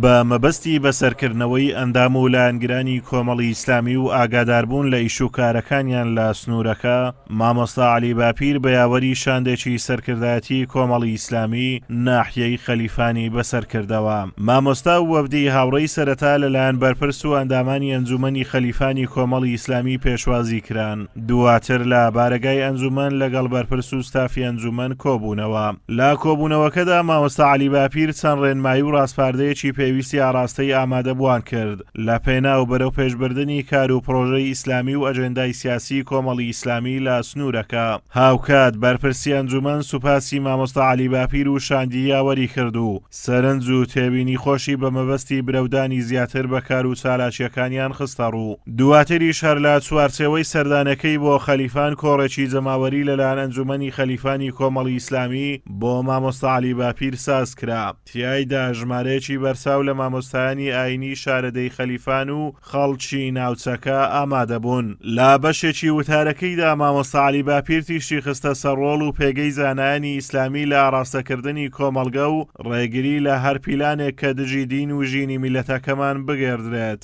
بە مەبەستی بەسەرکردنەوەی ئەندام و لایەنگرانی کۆمەڵی ئیسلامی و ئاگاداربوون لە ئیش و کارەکانیان لە سنوورەکە، مامۆستا عەلی باپیر بە یاوەری شاندێکی سەرکردایەتی کۆمەڵی ئیسلامی ناحیەی خەلیفانی بەسەرکردەوە. مامۆستا و وەفدی هاوڕێی سەرەتا لەلایەن بەرپرس و ئەندامانی ئەنجوومەنی خەلیفانی کۆمەڵی ئیسلامی پێشوازی کران. دواتر لە بارەگای ئەنجومەن لەگەڵ بەرپرس و ستافی ئەنجومەن کۆبوونەوە. لە کۆبوونەوەکەدا مامۆستا عەلی باپیر چەند ڕێنمایی و ڕاسپاردەیەکی پێویستی ئاڕاستەی ئامادەبووان کرد لە پێناو بەرەوپێشبردنی کار و پڕۆژەی ئیسلامی و ئەجێندای سیاسی کۆمەڵی ئیسلامی لە سنوورەکە. هاوکات بەرپرسی ئەنجومەن سوپاسی مامۆستا عەلی باپیر و شاندی یاوەری کرد و سەرنج و تێبینی خۆشی بە مەبەستی برەودانی زیاتر بە کار و چالاکییەکانیان خستەڕوو، دواتریش هەر لە چوارچێوەی سەردانەکەی بۆ خەلیفان کۆڕێکی جەماوەری لەلایەن ئەنجومەنی خەلیفانی کۆمەڵی ئیسلامی بۆ مامۆستا عەلی باپیر سازکرا، تیایدا ژمارەیەکی بەرچاو لە مامۆستایانی ئایینی شارەدێی خەلیفان و خەڵکی ناوچەکە ئامادەبوون. لە بەشێکی وتارەکەیدا مامۆستا عەلی باپیر تیشکی خستە سەر ڕۆڵ و پێگەی زانایانی ئیسلامی لە ئاڕاستەکردنی کۆمەڵگە و ڕێگری لە هەر پیلانێک کە دژی دین و ژینی میللەتەکەمان بگێردرێت.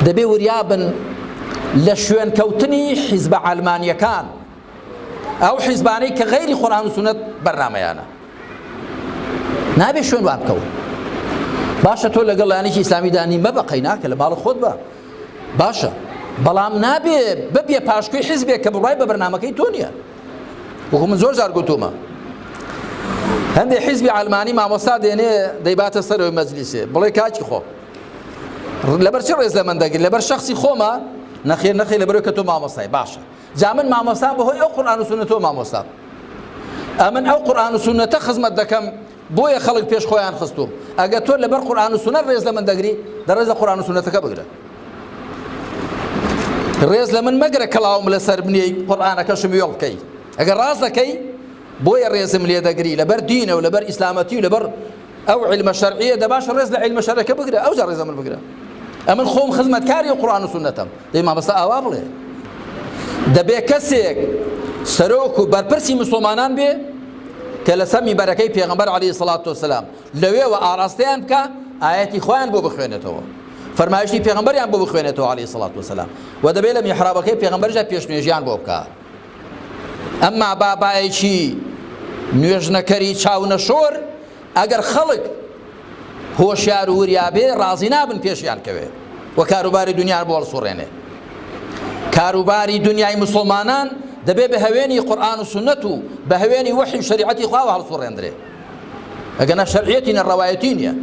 دەبێ وریابن لە شوێنکەوتنی حیزبە عەلمانیەکان ئەو حیزبانەی کە غەیری قورئان و سونەت بەرنامەیانە نابێ شوێن وا بکەون باشە تۆ لەگەڵ لایەنێکی ئیسلامیدا نی مەبە قەیناکە لە ماڵە خۆت بە باشە بەڵام نابێ ببێ پاشکوی حیزبێک کە بڕای بە بەرنمەکەی تۆ نییە وەکو من زۆر زار گوتومە هەندێک حیزبی ئەلمانی مامۆستا دێنێ دەیباتە سەرەوەی مەجلیسێ بڵێ کاکی خۆ لەبەر چ ڕێز لە من دەگرن لەبەر شخصی خۆمە نەخێر نەخێ لەبەر کە تۆ مامۆستای باشە جا من مامۆستام بەهۆی ئەو قورآن و سونەتەوە مامۆستام ئەمن ئەو قورآن و سونەتە خزمەت دەکەم بۆیە خەڵک پێش خۆیان خستوم ئەگە تۆ لەبەر قورآن و سونەت ڕێز لە من دەگری دەڕێز لە قورآن و سونەتەکە بگرە ڕێز لە من مەگرە کەڵاوم لەسەر بنیەی قورآانەکەشم وێڵ بکەی ئەگەر ڕاست دەکەی بۆیە ڕێزم لێ دەگری لەبەر دینە و لەبەر ئیسلامەتی و لەبەر ئەو علمە شەرعیە دەباشە ڕێز لە علمە شەرەکە بگرە ئەوجا ڕێزە من بگرە ئەمن خۆم خزمەتکاری قڕان و سنەتەم دەی مامەستا ئاوا بڵێ دەبێ کەسێک سەرۆک و بەرپرسی مسلمانان بێ کە لە سەمی بەرەکەی پێغمبەر علی سڵات وسلام لەوێوە ئاراستەیان بکە ئاەتی خۆیان بۆ بخوێنێتەوە فەرمایشتی پێغمبەریان بۆ بخوێنێتەوە علی سڵات وسلام و دەبێت لە میحرابەکەی پێغمبەرجە پێشنێژیان بۆ بکە ئەمما بابایەکی نوێژنەکەری چاونەشۆر ئەگەر خەڵک هۆشیار و وریابێ ڕازی نابن پێشیان کەوێ و کاروباری دنیان بۆ هەڵسوڕێنێ کاروباری دنیای مسلمانان دەبێ بە هەوێنی قورآن و سنت و بە هەوێنی وحی شریعەتی خواوە هەڵسوڕێندرێ ئەگەر نە شەرعیەتی نە ڕەوایەتی نییە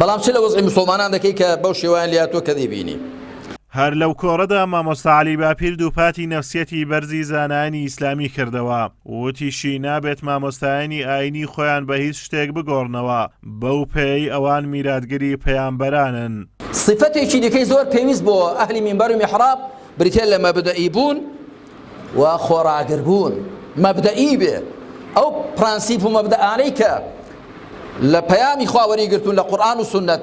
بەڵام چ لە وەزعی مسلمانان دەکەی کە بەو شێوایان لاتۆ کە دەیبینی هەر لەو کۆڕەدا مامۆستا عەلی باپیر دووپاتی نەفسیەتی بەرزی زانایانی ئیسلامی کردەوە، وتیشی نابێت مامۆستایانی ئاینی خۆیان بە هیچ شتێک بگۆڕنەوە، بەو پێیەی ئەوان میراتگری پەیامبەرانن. سیفەتێکی دیکەی زۆر پێویست بۆ ئەهلی مینبەر و میحراب بریتیە لە مەبدەئی بوون و خۆڕاگر بوون، مەبدەئی بێ ئەو پرەنسیپ و مەبدەئانەی کە لە پەیامی خوا وەریگرتوون لە قورئان و سوننەت،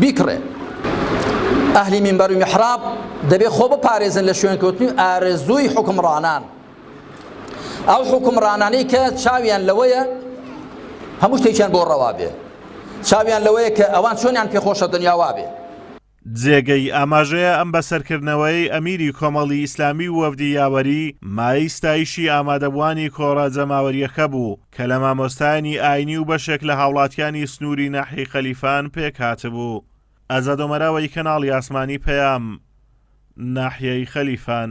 بیکڕێ. ئەهلی مینبەر و میحراب دەبێ خۆ بپارێزن لە شوێنکەوتنی و ئارەزووی حوکمڕانان. ئەو حوکمڕانانەی کە چاویان لەوەیە هەموو شتێکیان بۆ ڕەوا بێ. چاویان لەوەیە کە ئەوان چۆنیان پێخۆشە دنیا وا بێ. جێگەی ئاماژەیە ئەم بەسەرکردنەوەیەی ئەمیری کۆمەڵی ئیسلامی و وەفدی یاوەری، مایەی ستایشی ئامادەبووانی کۆڕە جەماوەرییەکە بوو. کە لە مامۆستایانی ئاینی و بەشێک لە هاوڵاتیانی سنووری ناحیەی خەلیفان پێکهاتبوو. ئەزادۆمەراوەی کەناڵی ئاسمانی پەیام، ناحیەی خەلیفان.